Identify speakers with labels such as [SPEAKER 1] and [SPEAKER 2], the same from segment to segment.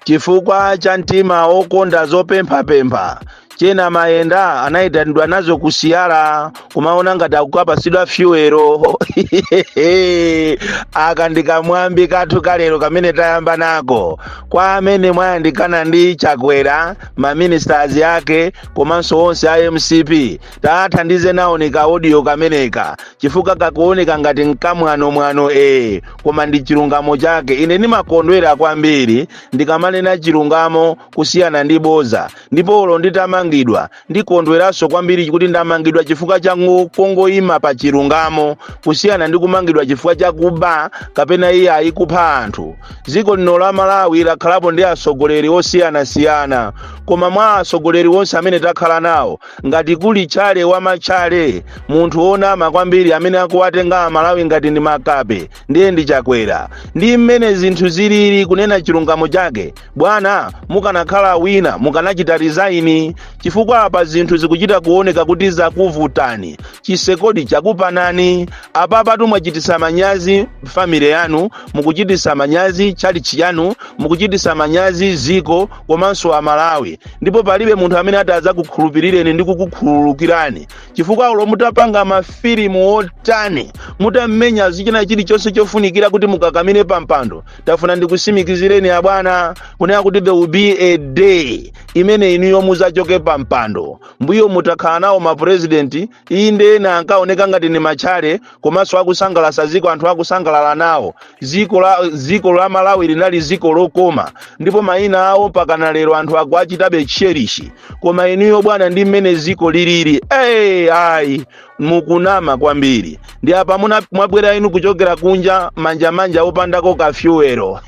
[SPEAKER 1] Chifukwa cha mtima wokonda zopemphapempha, Chena Mayenda anayitanidwa nazo ku Siyara kumaona ngati akukapasidwa fyuwero. Aka ndi kamwambi kathu kalero kamene tayamba nako kwa amene mwayandikana ndi Chakwera, ma ministers ake komanso onse a mcp tathandize nawoni ka audio kameneka chifukwa kakuoneka ngati nkamwanomwano ee koma ndi chilungamo chake ine ndimakondwera kwambiri ndikamanena chilungamo kusiyana ndi boza ndipo olo nditamangidwa ndikondweranso kwambiri kuti ndamangidwa chifukwa cha ngu- kungoima pa chilungamo kusiyana ndi kumangidwa chifukwa cha kuba kapena iyayi kupha anthu dziko lino la malawi lakhalapo ndi atsogoleri osiyanasiyana koma mwa atsogoleri onse amene takhala nawo ngati kuli tchale wa matchale munthu wonama kwambiri amene akuwatenga amalawi ngati ndi makape ndiye ndi chakwera ndi mmene zinthu zilili kunena chilungamo chake bwana mukanakhala wina mukanachita resign chifukwa apa zinthu zikuchita kuoneka kuti zakuvutani chisekodi chakupanani apapatu mwachitisa manyazi family yanu mukuchitisa manyazi tchalitchi yanu mukuchitisa manyazi ziko komanso amalawi ndipo palibe munthu amene atadzakukhulupirireni ndi kukukhululukirani chifukwa olo mutapanga mafilimu otani mutammenya zichina chilichonse chofunikira kuti mukakamire pampando tafuna ndikusimikizireni abwana kunena kuti there will be a day imene inuyo muzachoke pampando mbuyomu takhala nawo mapurezidenti inde ena ankaoneka ngati ni matchale komanso akusangalasa ziko anthu akusangalala nawo ziko la, ziko la malawi linali ziko lokoma ndipo mayina awo pakana lero anthu akuachitabe cherish koma inuyo bwana ndi mmene ziko lilili hey, ayi mukunama kwambiri ndi apa muna- mwabwera inu kuchokera kunja manjamanja opandako kafyuwero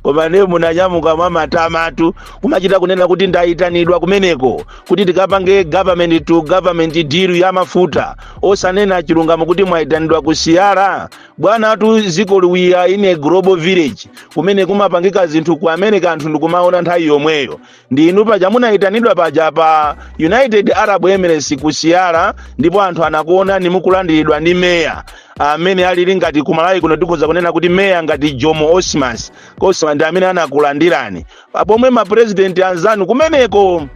[SPEAKER 1] koma ne munanyamuka mwamatamatu kumachita kunena kuti ndayitanidwa kumeneko kuti tikapange government to government deal ya mafuta osanena chilungamo kuti mwayitanidwa ku siyara bwanatu zikoli we are in a global village kumene kumapangika zinthu ku america anthu ndikumaona nthawi yomweyo ndi inu paja munayitanidwa paja pa united arab emirates ku siyara ndipo anthu anakuonani mukulandiridwa ndi meya amene alili ngati kumalawi kuno tikhoza kunena kuti meya ngati jomo osmas osman ndi amene anakulandirani pa pomwe mapurezidenti anzanu kumeneko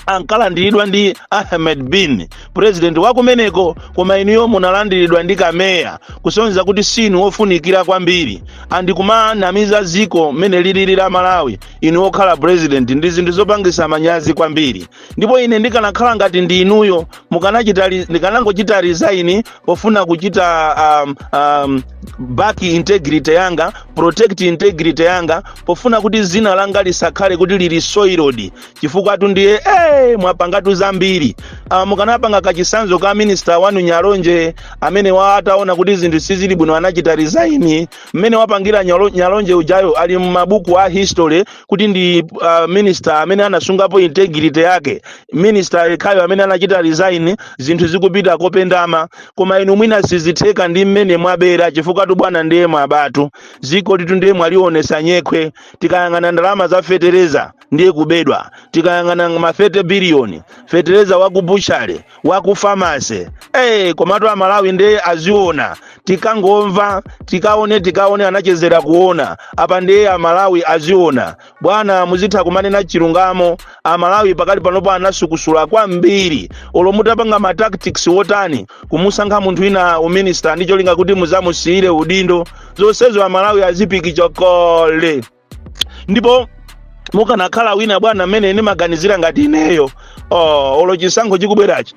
[SPEAKER 1] ankalandiridwa ndi ahmed bin purezidenti wa kumeneko koma inuyo munalandiridwa ndi kameya kusonyeza kuti sinu wofunikira kwambiri and kumanamiza ziko mmene lilili la malawi inu okhala purezidenti ndi zinthu zopangisa manyazi kwambiri ndipo ine ndikanakhala ngati ndi inuyo mukanachita ri- ndikanangochita resign pofuna kuchita um, um, back integrity yanga protect integrity yanga pofuna kuti zina langa lisakhale kuti lili soiled chifukwa tu ndiye eh mwapangatu zambiri uh, mukanapanga kachisanzo ka minister wanu nyalonje amene wa ataona kuti zinthu sizili bwino anachita resign mmene wapangira Nyalo- nyalonje ujayo ali m'mabuku a history kuti ndi uh, minister amene anasungapo integrity yake minister yekhayo amene anachita resign zinthu zikupita kopendama koma inu mwina sizitheka ndi mmene mwabera chifukwa tu bwana ndiye mwabatu zikolitu ndiye mwalionesa nyekhwe tikayang'ana ndalama za fetereza ndiye kubedwa tikayang'ana ma 30 biliyoni fetereza wa ku butchery wa ku pharmacy eh komatu amalawi ndiye aziona tikangomva tikaone tikaone anachezera kuona apa ndiye amalawi aziona bwana muzitha kumanena chilungamo amalawi pakali panopo anasukusula kwambiri olo mutapanga ma tactics wotani kumusankha munthu ina uminista ndi cholinga kuti muzamusiyire udindo zonsezo amalawi azipika kale ndipo mukanakhala wina bwana mmene ndimaganizira ngati ineyo oh, olo chisankho chikubwerachi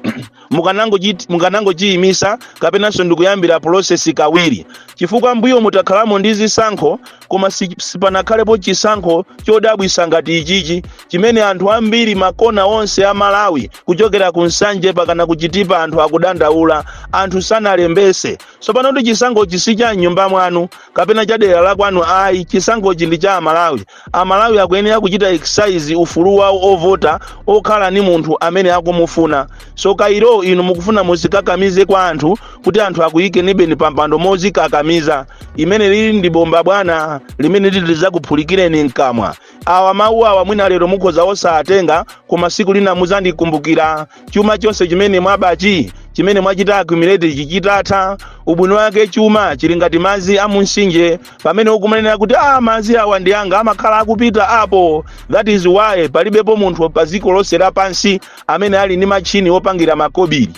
[SPEAKER 1] mukanangochit- mukanangochiyimisa kapenanso ndikuyambira process kawiri chifukwa mbuyomu takhalamo ndi zisankho koma si- sipanakhalepo chisankho chodabwisa ngati ichichi chimene anthu ambiri makona onse a malawi kuchokera ku nsanje pakana ku chitipa anthu akudandaula anthu sanalembese tsopano kuti chisankhochi si cha mnyumba mwanu kapena cha dera la kwanu ayi chisankhochi ndi cha amalawi amalawi akuyenera kuchita exercise ufulu wawo ovota okhala ni munthu amene akumufuna so kairo inu mukufuna muzikakamize kwa anthu kuti anthu akuyikenibeni pampando mozikakamiza limeneli ndi bomba bwana limene lizakuphulikireni mkamwa awa mawu awa mwina lero mukhoza osawatenga koma siku lina muzandikumbukira chuma chonse chimene mwabachi chimene mwachita accumulate chitha kutha ubwino wake chuma chili ngati madzi a munsinje pamene ukumanena kuti ah madzi awa ndi anga amakhala akupita apo that is why palibepo munthu pa dziko lonse lapansi amene ali ndi matchini opangira makobiri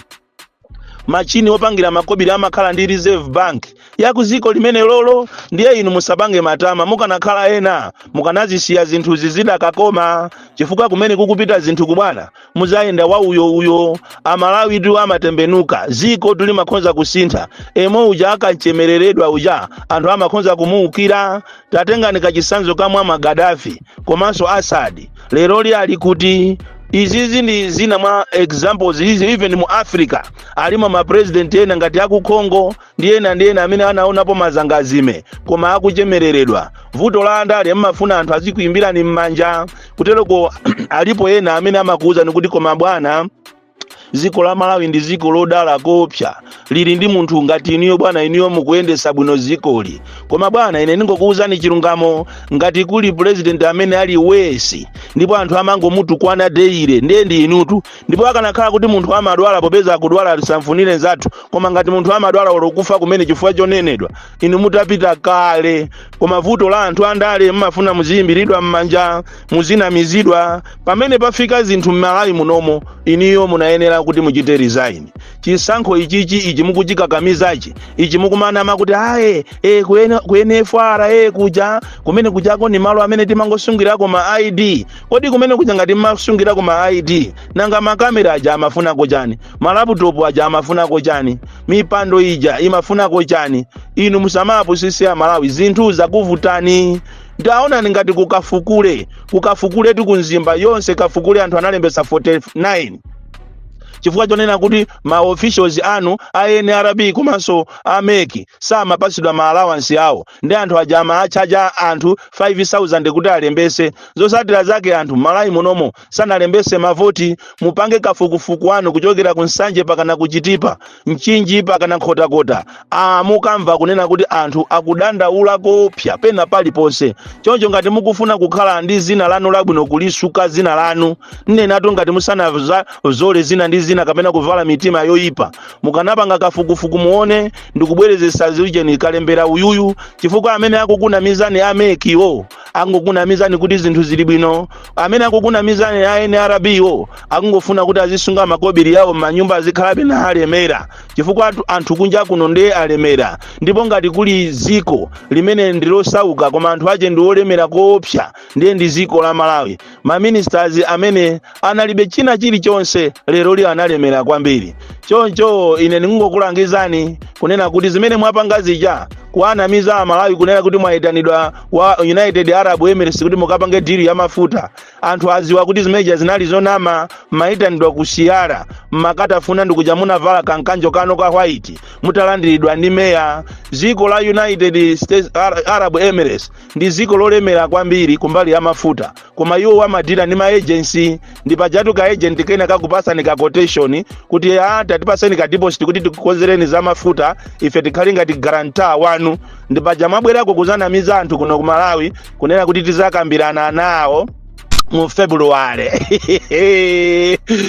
[SPEAKER 1] machini opangira makobiri amakhala ndi reserve bank ya ku dziko limene lolo ndiye inu musapange matama mukanakhala ena mukanazisiya zinthuzi zidakakoma chifukwa kumene kukupita zinthuku bwana muzayenda wauyo uyo amalawitu amatembenuka zikotu limakhonza kusintha yemwe uja akanchemereredwa uja anthu amakhonza kumuukira tatengani kachisanzo ka muammar gaddafi komanso assad leroli ali kuti izizi ndi zina mwa examples izi even mu africa alimo mapresident ena ngati aku congo ndi ena ndi ena amene anaonapo mazangazime koma akuchemereredwa vuto la andale mmafuna anthu azikuimbirani m'manja kutereko alipo ena amene amakuwuzani kuti koma bwana ziko la malawi ndi ziko lodala koopsa lili ndi munthu ngati inuyo bwana inuyo mukuyendesa bwino zikoli koma bwana ine ndingokuwuzani chilungamo ngati kuli purezidenti amene ali wesi ndipo anthu amangomutukwana daily ndiye ndi inutu ndipo akanakhala kuti munthu amadwala popeza akudwala lisamfunire nzathu koma ngati munthu amadwala olo kufa kumene chifukwa chonenedwa inu mutapita kale koma vuto la anthu andale mmafuna muziyimbiridwa m'manja muzinamizidwa pamene pafika zinthu m'malawi munomo inuyo munayenera kuti muchite resign chisankho ichichi ichi mukuchikakamizachi ichi mukumanama kuti aye ku nfra kuja kumene kujako ni malo amene timangosungirako ma id kodi kumene kuja ngati mmasungirako ma id nanga makamera aja amafunako chani malaputopu aja amafunako chani mipando ija imafunako chani inu musamawapusise amalawi zinthu zakuvutani taonani ngati kukafukule kukafukule tu kumzimba yonse kafukule anthu analembesa 49 chifukwa chonena kuti ma officials anu a nrb komanso a mec samapasidwa ma allowance awo ndi anthu aja amaatchaja anthu 5000 kuti alembese zosatira zake anthu m'malawi munomo sanalembese mavoti mupange kafukufuku wanu kuchokera ku nsanje pakana kuchitipa mchinji pakana nkhotakota a mukamva kunena kuti anthu akudandaula koopsa pena paliponse choncho ngati mukufuna kukhala ndi zina lanu labwino kulisuka zina lanu nnenatu ngati musanazazole zina ndi zina kapena kuvala mitima yoyipa mukanapanga kafukufuku muone ndikubwerezesa ziujeni kalembera uyuyu chifukwa amene akukunamizani a mec wo angokunamizani kuti zinthu zili bwino amene akukunamizani a nrb wo akungofuna kuti azisunga makobiri yawo m'manyumba azikhalabe na alemera chifukwa anthu kunja kuno ndiye alemera ndipo ngati kuli ziko limene ndilosauka koma anthu ache ndi olemera koopsa ndiye ndi ziko la malawi maministers amene analibe china chilichonse leroli analemera kwambiri choncho ine ningokulangizani kunena kuti zimene mwapanga zija kuwanamiza amalawi kunena kuti mwayitanidwa kwa united arab emirates kuti mukapange deal ya mafuta anthu aziwa kuti zimeneja zinali zonama mmayitanidwa ku siyara mmakatafuna ndikuja munavala kamkanjo kanu ka white mutalandiridwa ndi meya ziko la united states arab emirates ndi dziko lolemera kwambiri kumbali ya mafuta koma iwo amadila ndi maejensi ndi pajatu ka agent kena kakupasani ka quotation kuti tatipaseni ka deposit kuti tikukonzereni za mafuta ife tikhale ngati guarantor wanu ndi paja mwabwerako kuzanamiza anthu kuno ku malawi kunena kuti tizakambirana nawo mu february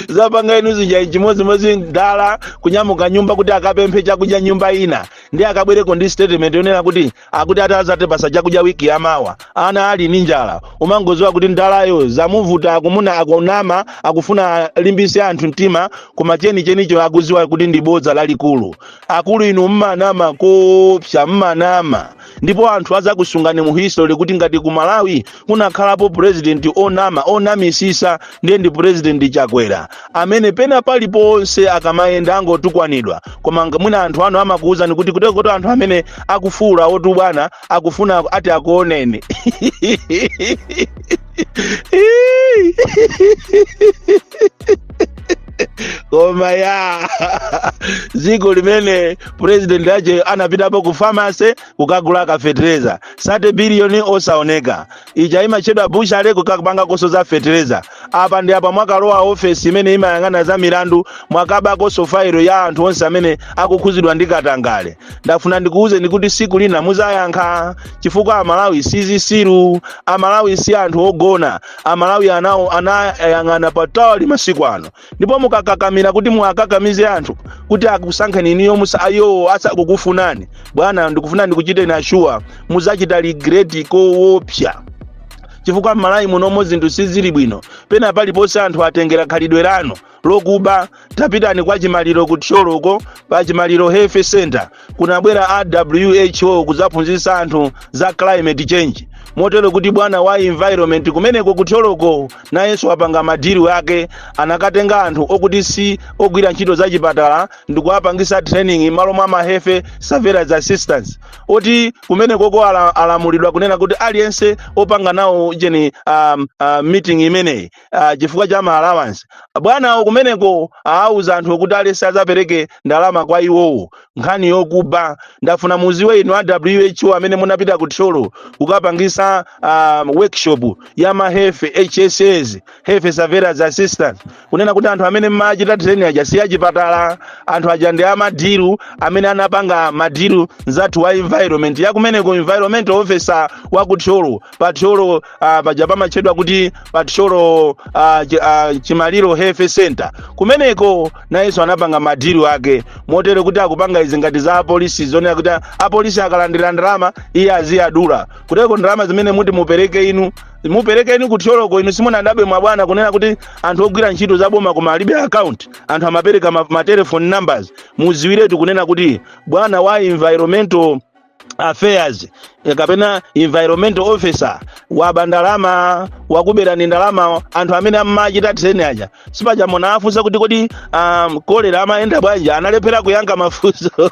[SPEAKER 1] zapanga inu zija chimodzimodzi mdala kunyamuka m'nyumba kuti akapemphe chakudya nyumba ina ndi akabwereko ndi statement yonena kuti ati azatipasa chakudya wiki yamawa ana ali ndi njala umangoziwa kuti mdalayo zamuvuta akumuna akunama akufuna alimbise anthu mtima koma chenichenicho akuziwa kuti ndi bodza lalikulu akulu inu mmanama koopsa mmanama ndipo anthu azakusungani mu history kuti ngati ku malawi kunakhalapo purezidenti onama onamisisa ndiye ndi purezidenti chakwera amene pena paliponse akamayenda angotukwanidwa koma mwina anthu anu amakuwuzani kuti kuteko anthu amene akufuwula otu bwana akufuna ati akuoneni koma ya dziko limene purezidenti ache anapitapo ku famase kukagula kafetereza sate biliyoni osaoneka ija imatchedwa bushale kukapanganso za fetereza apa ndi apa mwakalowa ofesi imene imayang'ana za milandu mwakabakonso fairo ya anthu onse amene akukhuzidwa ndi katangale ndafuna ndikuwuzeni kuti siku lina muzayankha chifukwa amalawi sizisiru amalawi si anthu ogona amalawi anayang'ana patali masiku ano ndipo mukakakamira kuti muwakakamize anthu kuti akusankheni inuyo muli iwo asakukufunani bwana ndikufuna ndikuchiteni ashuwa muzachita regret kowopsa chifukwa m'malawi munomo zinthu sizili bwino pena paliponse anthu atengera khalidwe lanu lokuba tapitani kwa chimaliro ku thyoloko pa chimaliro health center kunabwera a who kudzaphunzitsa anthu za climate change motero kuti bwana wa environment kumeneko kuthyoloko nayenso wapanga madili ake anakatenga anthu okuti si ogwira ntchito za chipatala ndikuwapangisa training malo mwa ma health surveillance assistants oti kumenekoko alamulidwa kunena kuti aliyense opanga nawo ujeni meeting imeneyi ah, chifukwa cha ma allowance bwanawo kumeneko awuza anthu kuti at least azapereke ndalama kwa iwowo nkhani yokuba ndafuna muziwe inu a who amene munapita ku thyolo kukapangisa ah, workshop ya ma health hss health surveillance assistant kunena kuti anthu amene mmachita training aja si achipatala anthu aja ndi a madili amene anapanga madili nzathu wa environment yakumeneko environment officer wa ku thyolo pa thyolo ah, paja pamatchedwa kuti pathyolo ah, chi- ah, chimaliro health center kumeneko nayenso anapanga madilu ake motero kuti akupanga izi ngati za apolisi zonena kuti apolisi akalandira ndalama iye aziyadula kuteko ndalama zimene muti mupereke inu mupereke inu kuthyoloko inu simunadabwe mwabwana kunena kuti anthu ogwira ntchito za boma koma alibe account anthu amapereka ma, ma telephone numbers muziwiretu kunena kuti bwana wa environmental affairs eh, kapena environmental officer waba ndalama wakuberani ndalama anthu amene amachita training aja si paja munawafunsa kuti kodi um, kolera amayenda bwanji analephera kuyankha mafunso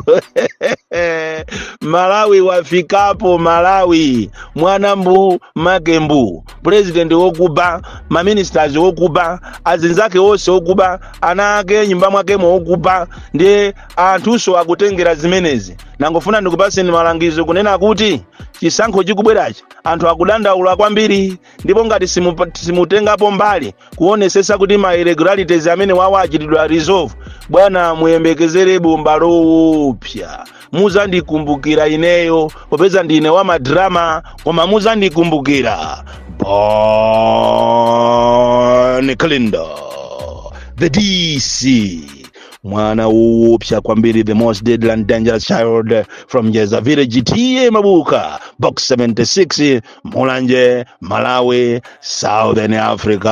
[SPEAKER 1] malawi wafikapo malawi mwana mbu make mbu president wokuba maministers wokuba azinzake onse okuba ana ake nyumba mwakemo okuba ndiye anthunso akutengera zimenezi nangofuna ndikupatseni malangizo kunena kuti chisankho chikubwerachi anthu akudandaula kwambiri ndipo ngati simu- simutengapo mbali kuonesesa kuti ma irregularities amenewawa achitidwa resolve bwana muyembekezere bomba lowopsa muzandikumbukira ineyo popeza ndine wa madrama koma muzandikumbukira bon kalindo the dc mwana woopsa kwambiri the most deadly and dangerous child from jeza village ta mabuka box 76 mulanje malawi southern africa